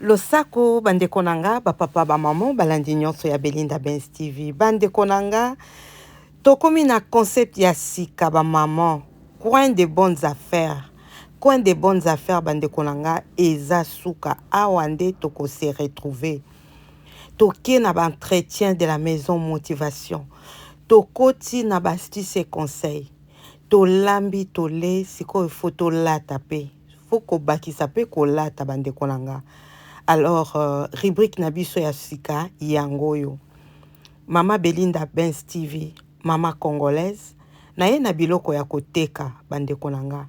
Losako ba ndeko na nga ba papa ba maman balandi nionso ya Belinda Benz TV ba ndeko na nga tokomi na concept ya sika ba maman coin de bonnes affaires coin de bonnes affaires ba ndeko na nga eza suka awa nde toko se retrouver toke na ba entretien de la maison motivation tokoti na ba astuces et conseils tolambi tole sikoyo faut tolata pe faut kobakisa pe kolata bandeko na nga alors euh, rubrique na biso ya sika yango oyo mama belinda bens tv mama congolaise naye na biloko ya koteka bandeko na nga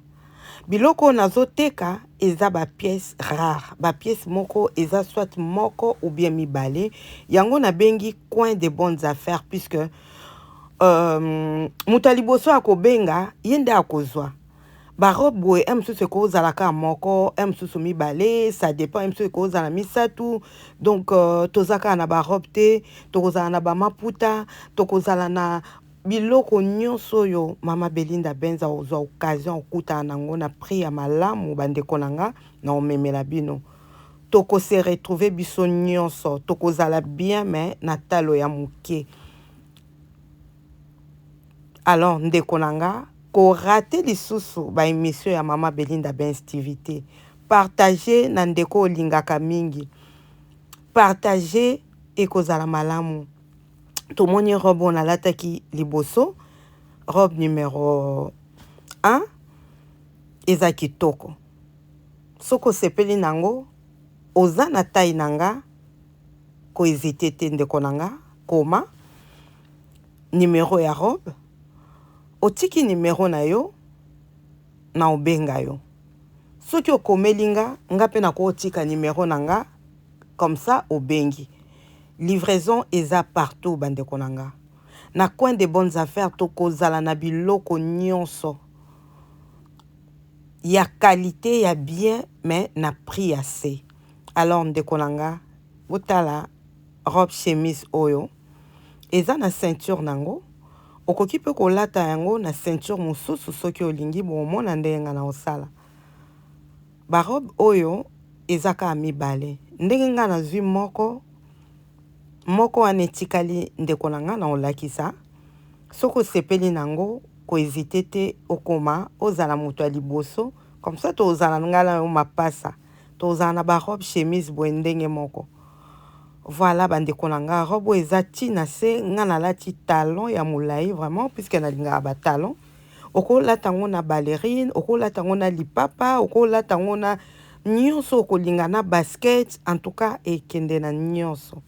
biloko oyo nazoteka eza bapiece rare bapiece moko eza soit moko ou bien mibale yango nabengi coin de bonnes affaires puisque euh, moto ya liboso akobenga ye nde akozwa Ba robe boye un mosusu eko zala ka moko un mosusu mibale ça depend un mosusu eko zala misatu donc euh, toza kaka na ba robe te tokozala na ba maputa tokozala na biloko nyonso oyo mama Belinda Benza ozwa occasion okutana nango na prix ya malamu bandeko na nga na omemela bino toko se retrouver biso nyonso tokozala bien mais na talo ya moke Alors ndeko na nga, ko rater lisusu ba emissions ya maman Belinda Benz TV te. Partager na ndeko olingaka mingi. Partager ekozala malamu. Tomoni robe oyo nalataki liboso, robe numero 1 eza kitoko. Soki osepeli na yango, oza na taille na nga, ko hesiter te ndeko na nga, koma. numero ya rob otiki numero na yo na obenga yo soki okomeli nga nga pe nakotika numero na nga comme ça obengi livraison eza partout bandeko na nga na coin de bonnes affaires tokozala na biloko nyonso ya qualité ya bien mais na prix ya se alors ndeko na nga botala robe chemise oyo Eza na ceinture nango, okoki pe kolata yango na ceinture mususu soki olingi, bokomona ndenge nga nakosala. Ba robe oyo eza kaka mibale, ndenge nga nazui moko, moko wana etikali ndeko na nga nakolakisa, soki osepeli nango ko hesiter te okoma ozala mutu ya liboso, comme ça tokozala nga na yo mapasa, tokozala na ba robe chemise boye ndenge moko. Voilà ba ndeko na nga robe oyo eza ti na se nga na lati talon ya molayi vraiment puisque na lingaka ba talon oko lata ngo na ballerine oko lata ngo na lipapa oko lata ngo na nionso oko linga na basket en tout cas ekende na nionso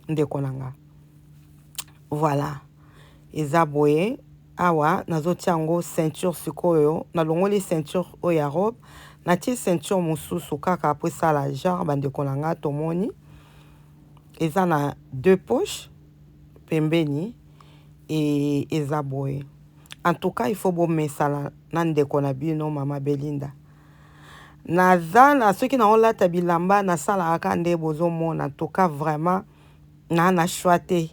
ndeko na nga voilà eza boye Awa nazo tia ngo ceinture sikoyo na longoli ceinture oyo ya robe na tie ceinture mususu kaka po esala genre ba ndeko na nga tomoni eza na deux poches pembeni et eza boye en tout cas il faut bo mesana na ndeko na bino mama Belinda naza na soki na olata bilamba na sala aka nde bozo mona en tout cas vraiment na na choix te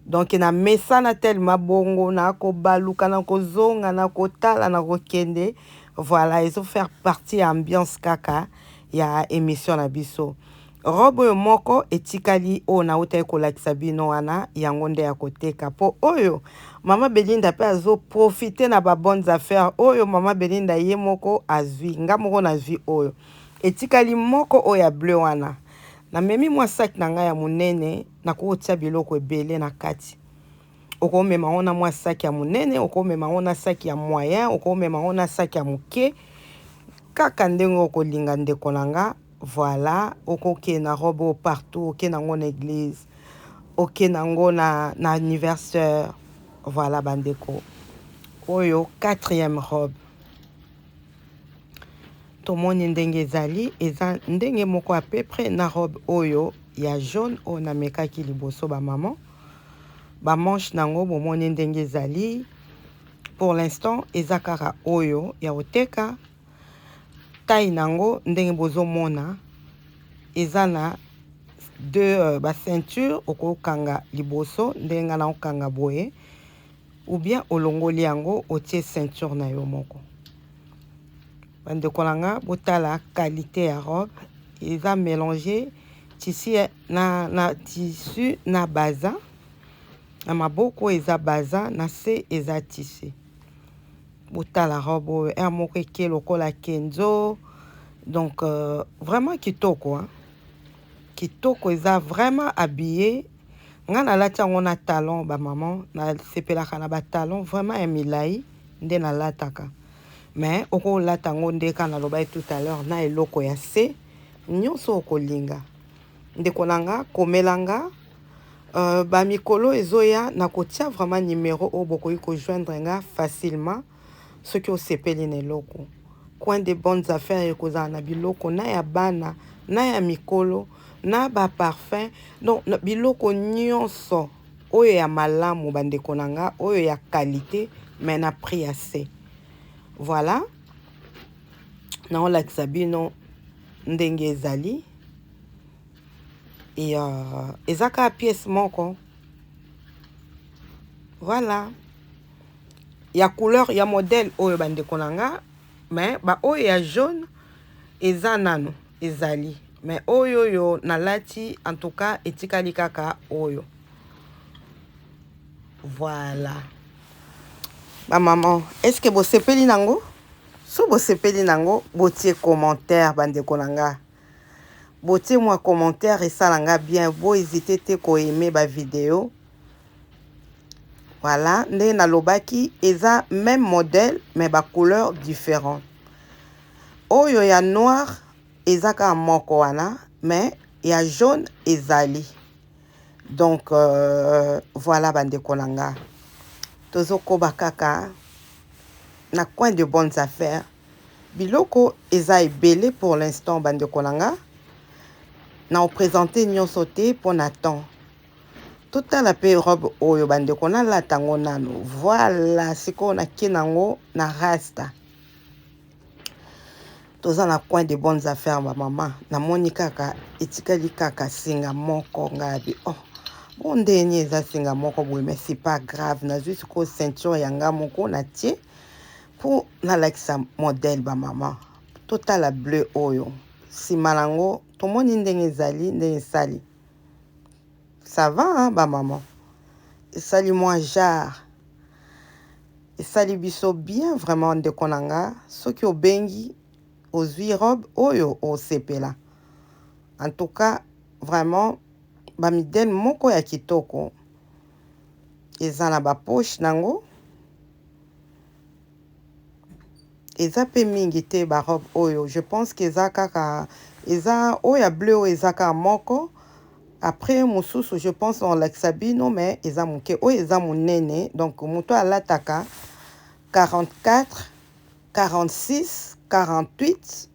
donc na mesana telema bongo na kobaluka na kozonga na kotala na kokende voilà ezo faire partie ya ambiance kaka ya émission na biso robe oyo moko etikali oyo nautaki kolakisa bino wana yango nde ya koteka mpo oyo mama belinda mpe azoprofite na babonnes affaires oyo mama belinda ye moko azwi nga moko nazwi oyo etikali moko oyo ya bleu wana Namemi mwa saki na ngai ya monene, nakoki kotia biloko ebele na kati. Okomema yango na mwa saki ya monene, okomema yango na saki ya moyen, okomema yango na saki ya moke, kaka ndenge okolinga, ndeko na nga. Voilà, okokende na robe oyo partout, okende yango na eglise, okende yango na, na anniversaire. Voilà bandeko, oyo quatrième robe. tomoni ndenge ezali eza ndenge moko à peu près na robe oyo ya jaune oyo namekaki liboso ba maman ba manche nango bomoni ndenge ezali pour l'instant eza kaka oyo ya koteka taille nango ndenge bozomona eza na deux euh, ba ceinture okokanga liboso ndenge nga naokanga boye ou bien olongoli yango otie ceinture na yo moko bandeko na nga botala qualité ya robe eza mélange tissu na, na tissu na baza na maboko eza baza na se eza tissu botala robe oyo heure moko eke lokola kenzo donc euh, vraiment kitoko hein? kitoko eza vraiment habillé nga nalati yango na talon ba maman nasepelaka na ba talon vraiment ya milai nde nalataka mais okolata yango nde ka nalobaki tout à l'heure na eloko ya se nyonso okolinga ndeko na nga komela nga euh, bamikolo ezoya nakotia vraiment numero oyo bokoki kojoindre nga facilement soki osepeli na eloko coin de bonnes affaires ekozala na biloko na ya bana na ya mikolo na ba parfum donc biloko nyonso oyo ya malamu bandeko na nga oyo ya qualité mais na prix ya se voilà naolakisa bino ndenge ezali et euh, eza kaka pièce moko voilà ya couleur ya modèle oyo ba ndeko na nga mais ba oyo ya jaune eza nanu ezali mais oyo oyo nalati en tout cas etikali kaka oyo voilà ba maman est ce que bosepeli nango so bosepeli nango botie commentaire ba ndeko na nga botie mwa commentaire esala nga bien bo hésiter te ko aimer ba video Voilà, nde nalobaki eza même modèle mais ba couleurs différents. Oyo ya noir eza kaka moko wana mais ya jaune ezali. Donc euh, voilà bandeko na nga. Tozokoba kaka na coin de bonnes affaires. Biloko eza ebele pour l'instant bandeko na nga. Na opresente nyonso te mpo na temps. totala pe robe oyo bandeko nalata yango nanu voila sikoyo nake nango na rasta toza na coin de bonnes affaires bamama namoni kaka etikali kaka singa moko ngabi oh mpo ndeni eza singa moko boye mais c'est pas grave nazwi sikoyo ceinture ya nga moko natie mpo nalakisa modèle bamama totala bleu oyo nsima na yango tomoni ndenge ezali ndenge esali Ça va hein ba maman esali mwa genre esali biso bien vraiment ndeko na nga soki obengi ozwi robe oyo osepela en tout cas vraiment ba midele moko ya kitoko eza na ba poche nango eza pe mingi te ba robe oyo je pense que eza kaka eza oyo ya bleu oyo eza kaka moko après mususu je pense na olakisa bino mais eza moke oyo eza monene donc moto alataka 44 46 48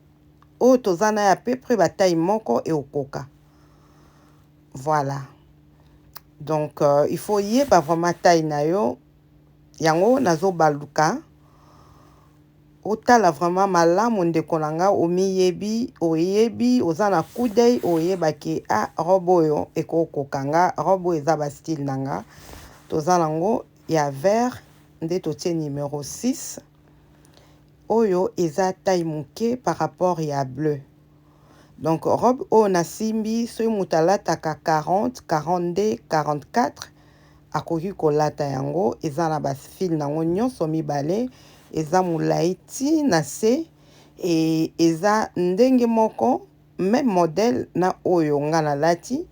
oyo toza na ya peu près bataille moko ekokoka voilà donc euh, il faut yeba vraiment taille na yo Yango nazo baluka otala vraiment malamu ndeko na nga omiyebi oyebi oza na coup d'oeil oyeba ke a ah, robe oyo ekokoka nga robe oyo eza ba style na nga toza nango ya vert nde totie numero 6 oyo eza taille moke par rapport ya bleu donc robe oyo nasimbi soki moto alataka 40 42 44 akoki kolata yango eza na ba fil nango nionso mibale eza mulayi ti na se et eza ndenge moko meme model na oyo nga na lati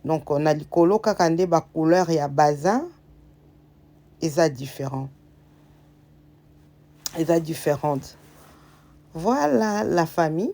donc na likolo kaka nde ba couleur ya bazin eza different eza differente voila la famille.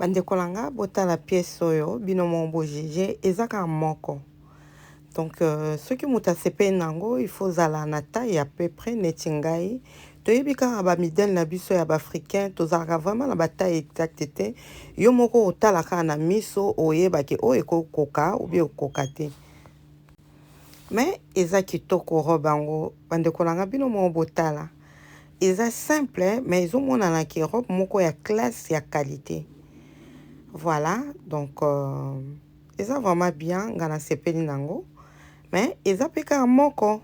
Bandeko na nga botala pièce oyo bino moko bo juge eza kaka moko donc euh, soki moto asepeli na yango il faut ozala na taille ya peu près neti ngai toyebi kaka ba midele na biso ya baafricain tozalaka vraiment na ba taille exacte te yo moko otala kaka na miso oyeba ke oyo ekokoka oubien okoka te Mais eza kitoko robe yango ba ndeko na nga bino moko botala eza simple mais ezo monana ke robe moko ya classe ya qualite voilà donc euh, eza vraiment bien nga na sepeli nango mais eza pe kaka moko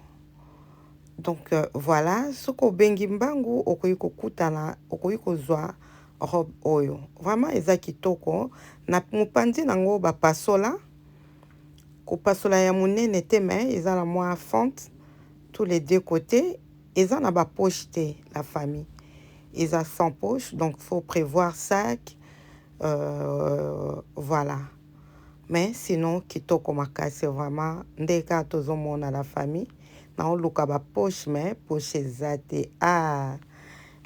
donc euh, voilà soki obengi mbangu okoki kokutana okoki kozwa robe oyo vraiment eza kitoko na mopanzi nango bapasola kopasola ya munene te mais eza na mwa fente tous les deux cote eza na ba poche te la famille eza sans poche donc faut prevoir sac euh, voilà mais sinon kitoko makasi vraiment nde kaka tozomona la famille naoluka ba poche mais poche eza te ah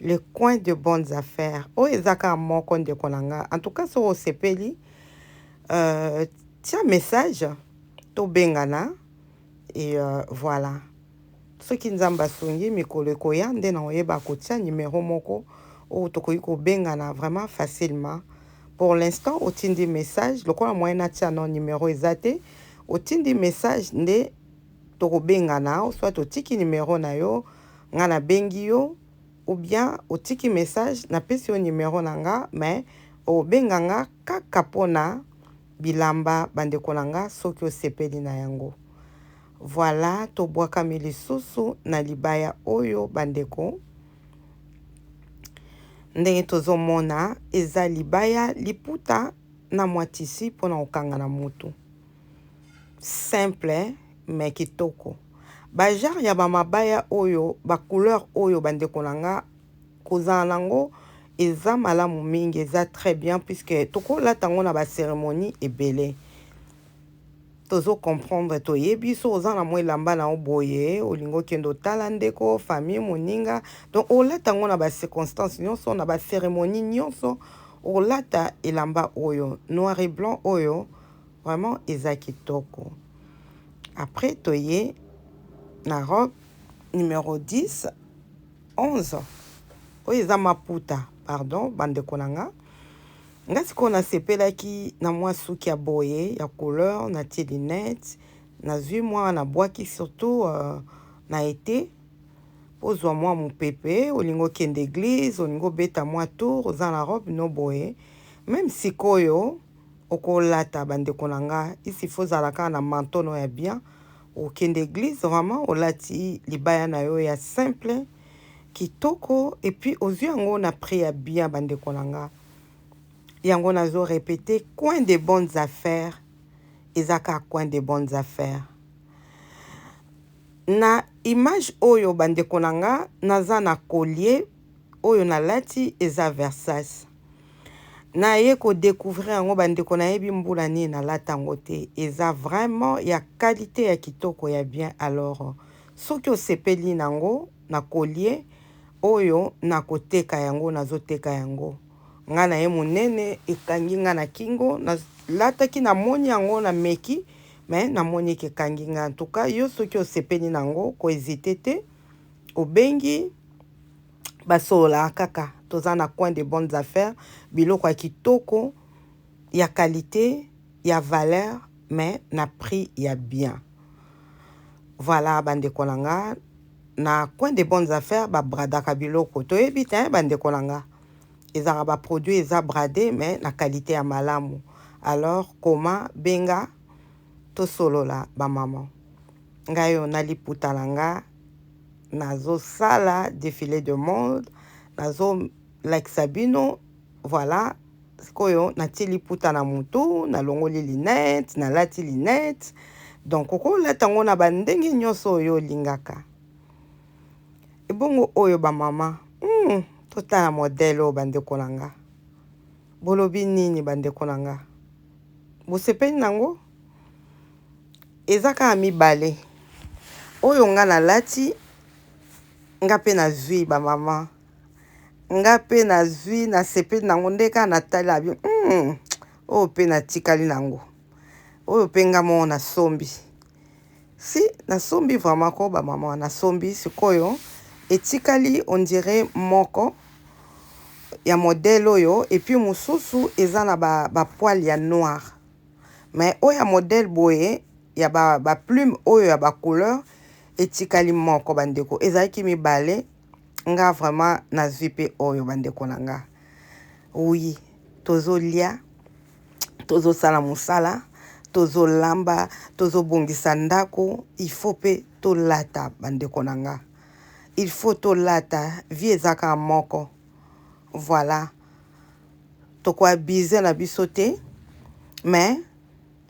le coin de bonnes affaires oyo eza kaka moko ndeko na nga en tout cas soki osepeli Euh, tia message tobengana et euh, voilà soki nzambe asungi mikolo ekoya nde na oyeba kotia numero moko oyo tokoki kobengana vraiment facilement pour l'instant otindi message lokola moyen atia no numero eza te otindi message nde tokobengana soit otiki numero na yo ngai nabengi yo ou bien otiki message na pesi yo numero na nga mais obenga nga kaka pona bilamba ba ndeko na nga soki osepeli na yango voila tobuakami lisusu na libaya oyo ba ndeko ndenge tozo mona eza libaya liputa na mua tissu pona kokanga na mutu. simple mais kitoko ba genre ya ba mabaya oyo ba couleur oyo ba ndeko na nga kozala na yango eza malamu mingi eza très bien puisque tokolata yango na ba ceremonie ebele tozo comprendre toyebi so oza na mwa elamba na yo boye olingi okende otala ndeko famille moninga donc olata yango na ba circonstance nyonso na ba ceremonie nyonso olata elamba oyo noir et blanc oyo Vraiment eza kitoko après toye na robe numero 10 11 oyo eza maputa pardon bandeko na nga nga sikoyo nasepelaki na mwa suki ya boye ya couleur natie lunette nazwi mwa na bwaki surtout uh, na ete ozwa mwa mopepe olingi okende eglize olingi obeta mwa tour oza na robe no boye meme sikoyo oko lata ba ndeko na nga ici il faut ozala kaka na manteau no ya bien okende eglise vraiment olati libaya na yo ya simple kitoko et puis ozui yango na prix ya bien ba ndeko na nga yango nazo repeter coin des bonnes affaires eza kaka coin des bonnes affaires na image oyo ba ndeko na nga naza na collier oyo na lati eza Versace Na ye ko decouvrir yango ba ndeko na yebi mbula nini na lata yango te eza vraiment ya qualite ya kitoko ya bien alors soki osepeli na ngo na collier oyo na ko teka yango na zo teka yango nga na ye munene ekangi nga na kingo na lataki na moni yango na meki mais na moni ke kangi nga en tout cas yo soki osepeli na ngo ko hesiter te obengi basololaka kaka toza na coin de bonnes affaires biloko ya kitoko ya qualite ya valeur mais na prix ya bien voilà bandeko na nga na coin de bonnes affaires babradaka biloko toyebi te bandeko na nga ezalaka baproduit eza brade mais na qualité ya malamu alors koma benga tosolola ba maman nga yo na liputa na nga nazo sala defile de mode nazo lakisa bino voilà sikoyo natie liputa na mutu nalongoli linette nalati linette donc okolata yango na bandenge nyonso oyo olingaka ebongo oyo bamama hmm, totala modele oyo bandeko na nga Bolobi nini ba ndeko na nga? Bosepeli na ngo? Eza kaka mibale oyo nga na lati nga pe na zui ba maman nga pe na zui na sepeli na ngo nde kaka na tali na bi humm oyo pe na tikali na ngo oyo pe nga moko na sombi Si na sombi vraiment ko ba maman na sombi sikoyo etikali on dirait moko ya modèle oyo et puis mususu eza na ba ba poils ya noir mais oyo ya modèle boye ya ba ba plumes oyo ya ba couleur etikali moko ba ndeko ezalaki mibale nga vraiment nazui pe oyo ba ndeko na nga oui tozo lia tozosala mosala tozolamba tozobongisa ndako il faut mpe tolata bandeko na nga il faut tolata vie eza kaka moko voilà tokoabize na biso te mais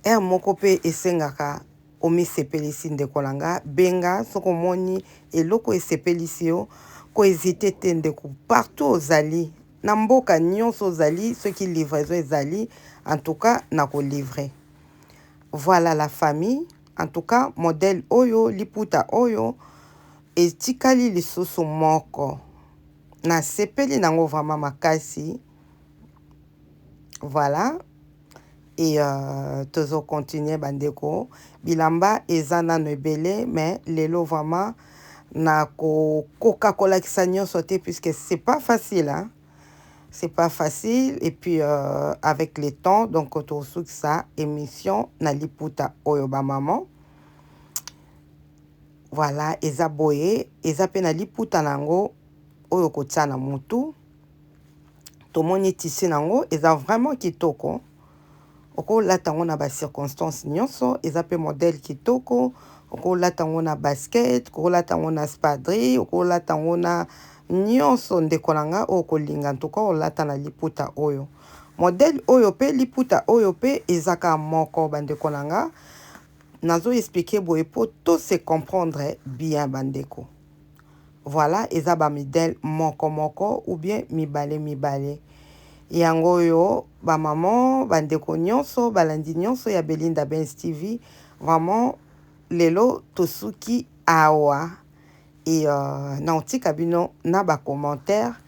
heure moko mpe esengaka omisepelisi ndeko na nga benga soki omoni eloko esepelisi yo koezite te ndeko partout ozali Na mboka nionso ozali soki livraison ezali en tout cas na ko livrer voilà la famille en tout cas modèle oyo liputa oyo etikali lisusu moko na sepeli nango vraiment makasi voilà Et euh, tozo continuer ba ndeko. Bilamba eza nanu ebele mais lelo vraiment nako koka kolakisa nionso te puisque c'est pas facile hein. C'est pas facile et puis euh, avec le temps donc tosukisa emission na liputa oyo ba maman. Voilà, eza boye, eza pe na liputa nango oyo kotia na mutu. tomoni tissu nango eza vraiment kitoko okolata yango na ba circonstances nionso eza pe modèle kitoko okolata yango na basket okolata yango na spadrille okolata yango na nionso ndeko na nga oyo kolinga ntuka olata na liputa oyo modèle oyo pe liputa oyo pe ezaka moko bandeko na nga nazo expliquer boye po to se comprendre bien bandeko Voilà eza ba midel moko moko ou bien mibale mibale yango oyo ba maman ba ndeko nionso balandi nionso ya Belinda Benz TV vraiment lelo tosuki awa et euh naotika bino na ba commentaires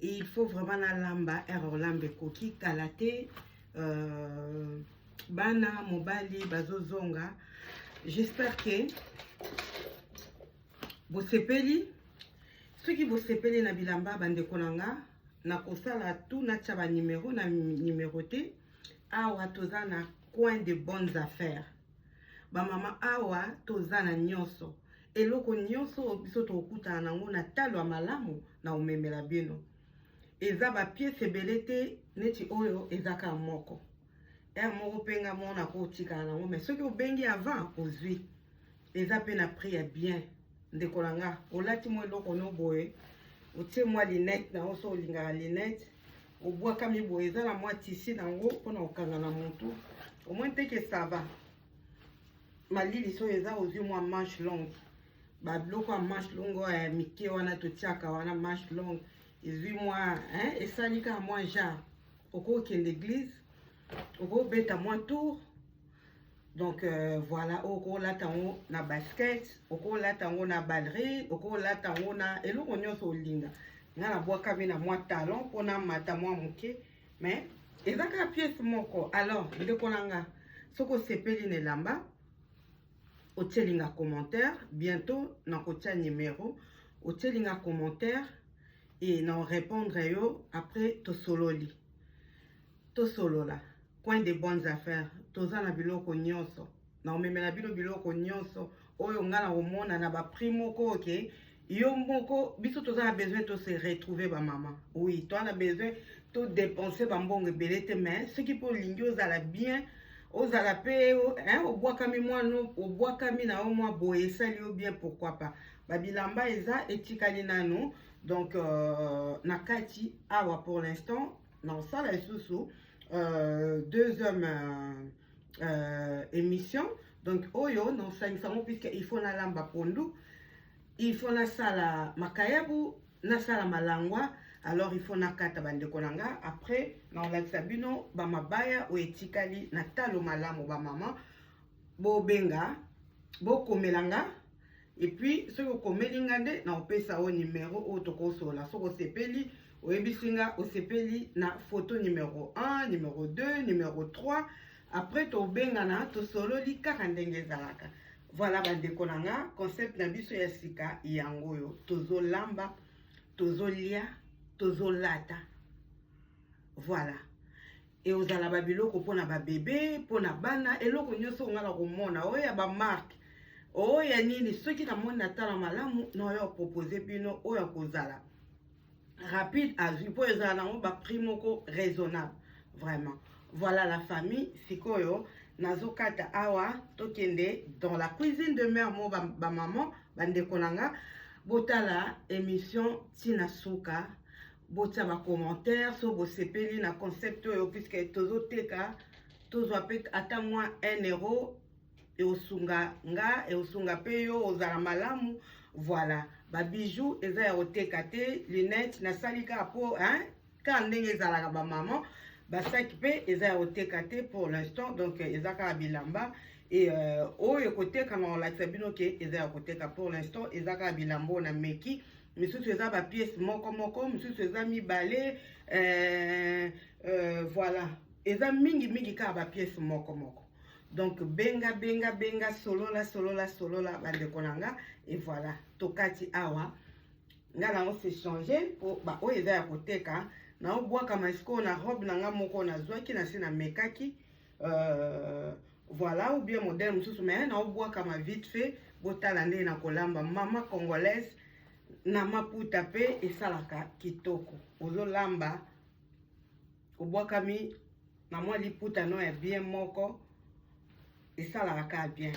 il faut vraiment nalamba ere olamba ekoki kala te euh, bana mobali bazozonga j'espère ke bosepeli soki bosepeli na bilamba bandeko na nga nakosala tout natya banimero na nimero te awa toza na coin de bonnes affaires bamama awa toza na nyonso eloko nyonso oyo biso tokokutana nango na talo ya malamu na omemela bino eza bapiese ebele te neti oyo ezaka moko r moko mpe nga moko nakotikala nango mai soki obengi avant ozwi eza mpe na prix ya bien ndeko na nga olati mwa eloko no boye otie mwa linete na yo so olingaka linete obwakami boye eza na mwa tisi na yango mpona kokanga na motu omoi nteke sava malili soyo eza ozwi mwa manche longue babiloko ya manche longue oyo ya mike wana totiaka wana manche longue ezwi mwa esali kaka mwa genre okokende église okobeta mwa tour donc euh, voilà okolata yango na basket okolata yango na ballerie okolata yango na eloko nyonso olinga nga nabwakami na mwa talon mpona mata mwa moke okay? mais eza kaka pièce moko alors ndeko na nga soki osepeli na elamba otyeli nga commentaire bientôt nakotya numero otyeli nga commentaire e na orépondre yo après tosololi tosolola coin de bonnes affaires toza na biloko nyonso na omemela bino biloko nyonso oyo ngai nakomona na baprix moko oke okay? yo moko biso toza na besoin to se retrouver ba mama oui toza na besoin to dépenser ba mbongo ebele te mais soki mpe olingi ozala bien ozala mpe obwakami mwana obwakami na yo mwa boye esali yo bien pourquoi pas babilamba eza etikali nanu donc euh, na kati awa pour l'instant na osala lisusu euh, deux hommes euh, euh, émission donc oyo na osangisa yango puisque il faut nalamba pondu il faut nasala makayabu nasala malangwa alors il faut nakata bandeko na nga après nakolakisa bino bamabaya oyo etikali na talo malamu bamama bobenga bokomela nga epuis soki okomeli nga nde nakopesa o nimero oyo tokosolola soki osepeli oyebisi nga osepeli na foto nimero 1 nimero 2 nimero 3 après tobengana tosololi kaka ndenge ezalaka Voilà bandeko na nga, concept na biso ya sika yango oyo, tozolamba, tozolia, tozolata. Voilà. ekozala babiloko mpo na babebe mpo na bana eloko nyonso ongaka komona oyo ya bamarke oyo ya nini soki namoni natala malamu naoyo propose bino oyo akozala rapide azwi mpo ezala nango baprix moko raisonnable vraiment voilà la famille sikoyo nazokata awa tokende dans la cuisine de mère mo bamaman ba bandeko na nga botala émission ntina suka botia bacommentaire so bosepeli na concept oyo puiske tozoteka tozwa mpe ata mwa 1 euro eosunga nga eosunga mpe yo ozala malamu voilà babijou eza ya koteka te lunette nasali kaka mpo kaka ndenge ezalaka bamama basaki mpe eza ya koteka te pour l'instant donc eza kaka bilamba e euh, oyo ekotekama kolakisa bino ke eza ya koteka pour l'instant eza kaka bilamba oyo na meki misusu eza bapiese moko moko misusu eza mibale euh, euh, voilà eza mingi mingi kaka bapiese moko moko donc benga benga benga solola solola solola bandeko na nga e voilà tokati awa nga nango se change po baoyo eza ya koteka naobwaka masikoyo na robe na nga moko nazwaki na se namekaki euh, voilà ou bien modèle mosusu mais naobwakama vite fait botala ndenge na kolamba mama congolaise na maputa mpe esalaka kitoko ozolamba obwakami na mwa liputa no ya bien moko esalaka kaka bien